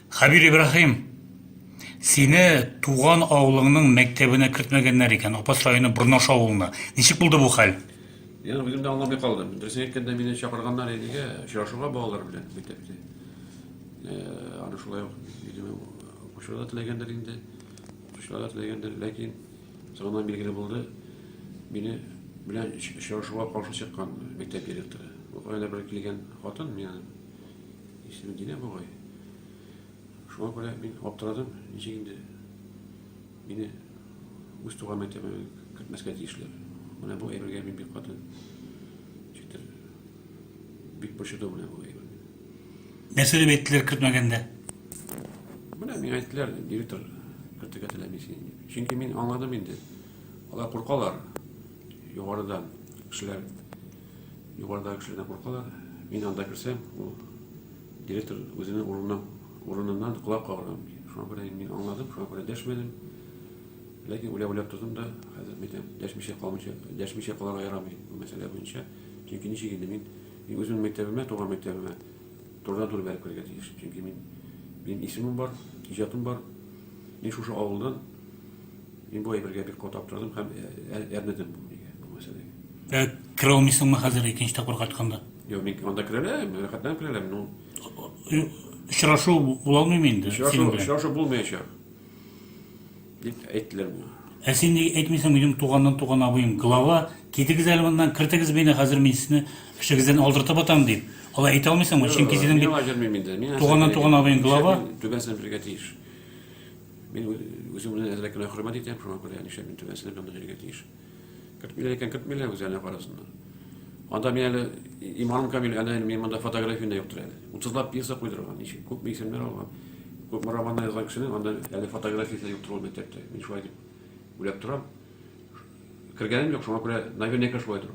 Хәбир Ибраһим, сине туган авылыңның мәктәбенә кертмәгәннәр икән, Апас районы Борнаш авылына. Ничек булды бу хәл? Мин үзем дә аңламый калдым. Дөресен әйткәндә, мине чакырганнар идегә, очрашуга балалар белән мәктәптә. Э, аны шулай ук, видимо, укучылар да теләгәндер инде, укучылар да теләгәндер, ләкин соңыннан билгеле булды, мине белән очрашуга каршы чыккан мәктәп директоры. Бу кайда бер килгән хатын, мин Исем Динә бугай. Шуңа күрә мин аптырадым, ничек инде мине үз туган мәктәбенә кертмәскә тиешләр. Менә бу әйбергә мин бик каты читер. Бик борчыды менә бу әйбер. Нәрсә дип әйттеләр кертмәгәндә? Менә миңа әйттеләр, директор кертергә теләми син. Чөнки мин аңладым инде. Алар куркалар югарыдан кешеләр Югарыдагы кешеләр дә куркалар. Мин анда керсәм, ул директор үзенең урыныннан, урыныннан колак кагар аны. Шуңа күрә инде мин аңладым, шуңа күрә дәшмәдем. Ләкин уйлап-уйлап тордым да, хәзер әйтәм, дәшмичә калмыйча, дәшмичә калырга ярамый бу мәсьәлә буенча. Чөнки ничек инде мин, мин үземнең мәктәбемә, туган мәктәбемә турыдан-туры бәреп керергә тиеш. Чөнки мин, минем исемем бар, иҗатым бар. Мин шушы авылдан, мин бу әйбергә бик каты аптырадым һәм ә- ә- әрнедем бу нигә, бу мәсьәләгә. Ә керә алмыйсыңмы хәзер икенче тапкыр кайтканда? Юк, мин анда керә алам, рәхәтләнеп керә алам. Ну, очрашу була алмыймы инде? Очрашу, очрашу булмаячак. Дип әйттеләр миңа. Ә син ник әйтмисең, минем туганнан туган абыем глава, китегез әле моннан, кертегез мине, хәзер мин сезне эшегездән алдыртып атам дип. Алай әйтә алмыйсыңмы? Чөнки синең бит җөрмим инде. Мин туганнан туган абыең глава. Түбәсен бирергә тиеш. Мин үзем белән әзрәк кенә хөрмәт итәм, шуңа күрә нишләп мин түбәсен бирергә тиеш. Кертмиләр икән, кертмиләр, үзләренә карасыннар. Анда мин әле иманым камил, әнә әле мин монда фотографияне йоктыр әле. Утызлап пьеса куйдырган, ничек, күпме исемнәр алган. Күпме романнар язган кешенең анда әле фотографиясе юктыр ул мәктәптә. Мин шулай дип уйлап торам. Кергәнем юк, шуңа күрә наверняка шулай тору.